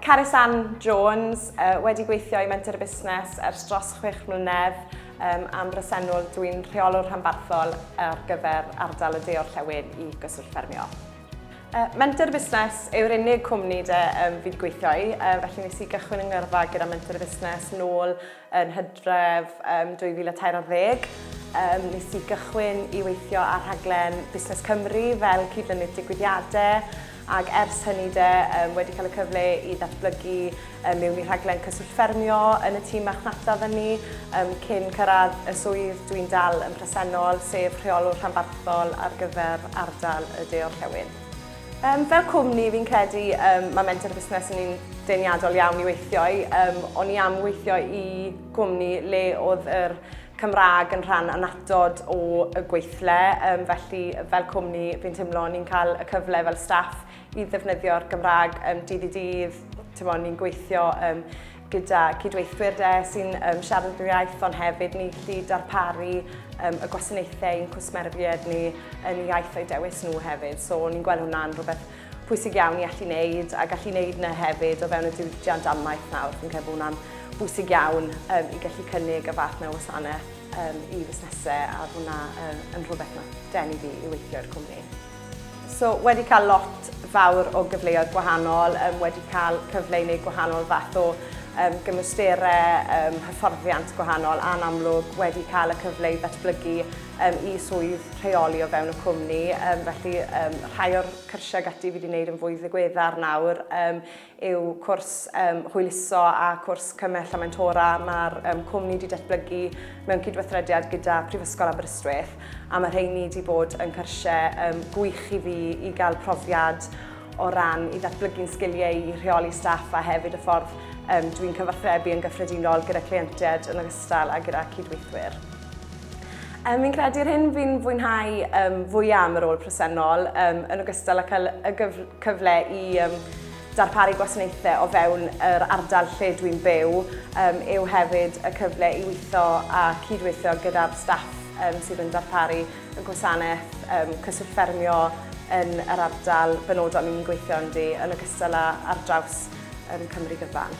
Caresan Jones uh, wedi gweithio i Menter y Busnes ers dros chwech mlynedd um, am bresennol dwi'n rheolwr rhanbarthol ar gyfer ardal y deor llewyn i gyswllt ffermio. Uh, Menter Busnes yw'r unig cwmni de um, fi wedi gweithio i, uh, felly nes i gychwyn yng ngyrfa gyda Menter Busnes nôl Yn hydref 2013, nes i gychwyn i weithio ar rhaglen Busnes Cymru fel cydlynydd digwyddiadau, ac ers hynny de, wedi cael y cyfle i ddatblygu mewn i rhaglen Cyswllt Ffermio yn y tîm marchnata fyny, cyn cyrraedd y swydd dwi'n dal yn presennol, sef Rheolwr Rhanbarthol ar gyfer ardal y De-orllewin. Yym, fel cwmni, fi'n credu yym, mae Mentor Busnes yn un deniadol iawn i weithio i. Um, o'n i am weithio i gwmni le oedd yr Cymraeg yn rhan anatod o y gweithle, um, felly fel cwmni fi'n teimlo ni'n cael y cyfle fel staff i ddefnyddio'r Gymraeg um, dydd i dydd, ni'n gweithio um, gyda cydweithwyr de sy'n um, siarad yr iaith, ond hefyd ni gallu darparu um, y gwasanaethau i'n cwsmerfied ni yn y iaith o'i dewis nhw hefyd. So ni'n gweld hwnna'n rhywbeth pwysig iawn i allu wneud a gallu wneud yna hefyd o fewn y diwydiant amaeth nawr. Fi'n credu bod hwnna'n bwysig iawn um, i gallu cynnig y fath na wasanaeth um, i fusnesau a bod hwnna um, yn rhywbeth na denu fi i weithio i'r cwmni. So, wedi cael lot fawr o gyfleoedd gwahanol, um, wedi cael cyfle i wneud gwahanol fath o um, gymwysterau, um, hyfforddiant gwahanol, a'n amlwg wedi cael y cyfle i ddatblygu um, i swydd rheoli o fewn y cwmni. Um, felly, um, rhai o'r cyrsiau gati fi wedi wneud yn fwy ddigweddar nawr um, yw cwrs um, hwyluso a cwrs cymell a mentora mae'r um, cwmni wedi datblygu mewn cydweithrediad gyda Prifysgol Aberystwyth a mae rheini wedi bod yn cyrsiau um, gwych i fi i gael profiad o ran i ddatblygu'n sgiliau i rheoli staff a hefyd y ffordd um, dwi'n cyfathrebu yn gyffredinol gyda cleientiaid yn ogystal a gyda cydweithwyr. Um, fi'n credu yr hyn fi'n fwynhau um, fwyaf am yr ôl presennol, um, yn ogystal â cael y gyf cyfle i um, darparu gwasanaethau o fewn yr ardal lle dwi'n byw, um, yw hefyd y cyfle i weithio a cydweithio gyda'r staff um, sydd yn darparu y gwasanaeth um, cyswllt ffermio yn yr ardal benodol ni'n gweithio ynddi, yn ogystal â ar draws yn Cymru gyfan.